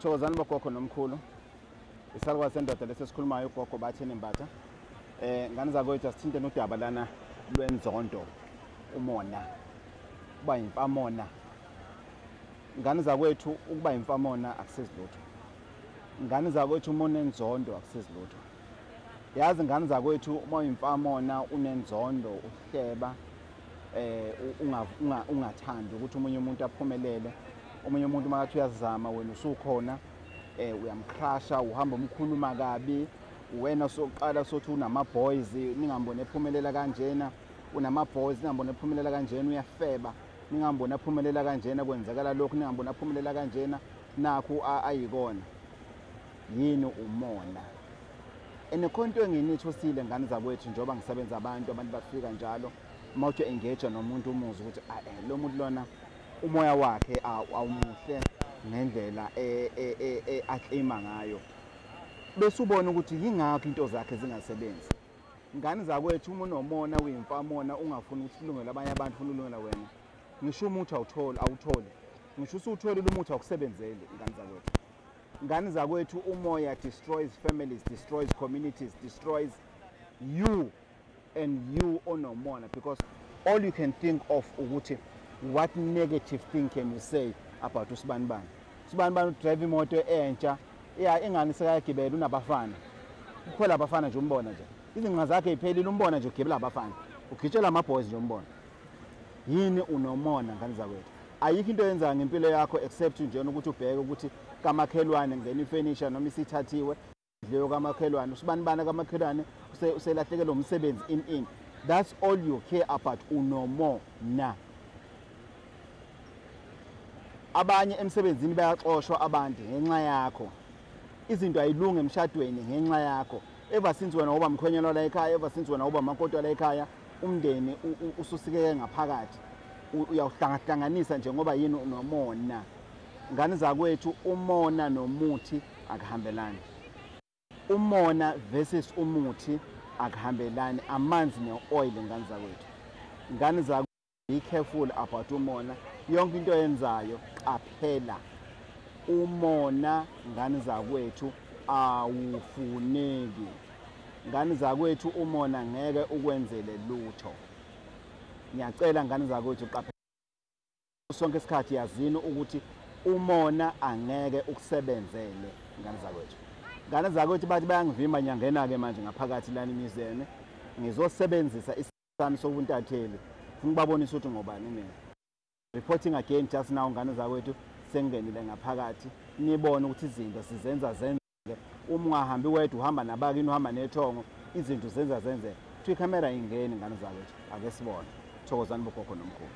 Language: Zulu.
thokozani bogogo nomkhulu isalukwazi sendoda lesi esikhulumayo ugogo bathi enembatha um ngane zakwethu asithinte nodaba lana lwenzondo umona uba yimfamona ngane zakwethu ukuba yimfamona akusizilutho ngane zakwethu umona enzondo akusizilutho yazi ngane zakwethu uma uyimfamona unenzondo uhleba eh ungathandi ukuthi umunye umuntu aphumelele omunye umuntu uma kathi uyazama wena usukhona eh uyamcrasha uhamba umkhuluma kabi wena soqala sothi unama boys ningambone ephumelela kanjena unama boys ningambone ephumelela kanjena uyafeba ningambone aphumelela kanjena kwenzakala lokho ningambone aphumelela kanjena nakho ayikona yini umona enekhonto enginitsho sile ngane zakwethu njengoba ngisebenza abantu abantu bafika njalo uma uthi engage nomuntu umuzi ukuthi ah, eh, lo muntu lona umoya wakhe awumuhle ngendlela e, e, e, aklima ngayo bese ubona ukuthi yingakho into zakhe zingasebenzi ngane zakwethu uma unomona uyimfamona ungafuni ukuthi kulungele abanye abantu ufuna ulungela wena ngisho umuthi awutholi awutholi ngisho usuwutholile umuthi awukusebenzeli ngane zakwethu Ngani zakwethu umoya destroys families, destroys communities, destroys you and you onomona because all you can think of ukuthi what negative thing can you say about usibanibani usibanibani udrive imoto entsha ya ingani sekayagibela unabafana ukhwela abafana nje umbona nje izinqa zakhe iphelile umbona nje ugibela abafana ugitshela ama-boys nje umbona yini unomona ngane zakwethu ayikho into yenza ngempilo yakho except nje ukuthi ubheke ukuthi kamakhelwane ngena ifurniture noma isithathiwe leyo kamakhelwane usibani bana kamakhelwane uselahlekelwe umsebenzi in in that's all you care about unomo na abanye emsebenzini bayaxoshwa abantu ngenxa yakho izinto ayilungi emshadweni ngenxa yakho ever since wena uba mkhwenyana la ekhaya ever since wena uba makoti la ekhaya umndeni ususikeke ngaphakathi uyawuhlangahlanganisa nje ngoba yini unomona ngane zakwethu umona nomuthi akuhambelani umona versus umuthi akuhambelani amanzi ne-oil ngane zakwethu ngane be careful about umona yonke into yenzayo qaphela umona ngani zakwethu awufuneki ngani zakwethu umona ngeke ukwenzele lutho ngiyacela ngani zakwethu qaphela sonke isikhathi yazini ukuthi umona angeke ukusebenzele ngani zakwethu ngane zakwethu bathi bayangivimba nyangena-ke manje ngaphakathi lani emizeni ngizosebenzisa sami sobuntatheli funa ukubabonisa ukuthi ngobani mina reporting again just now ngane zakwethu sengingenile ngaphakathi nibone ukuthi izinto sizenza zenzeke uma ungahambi wedwa uhamba nabakini uhamba nethongo izinto zenza zenzeke kuthiwa ikhamera ingeni ngane zakwethu ake sibone thokozani bogogo nomkhulu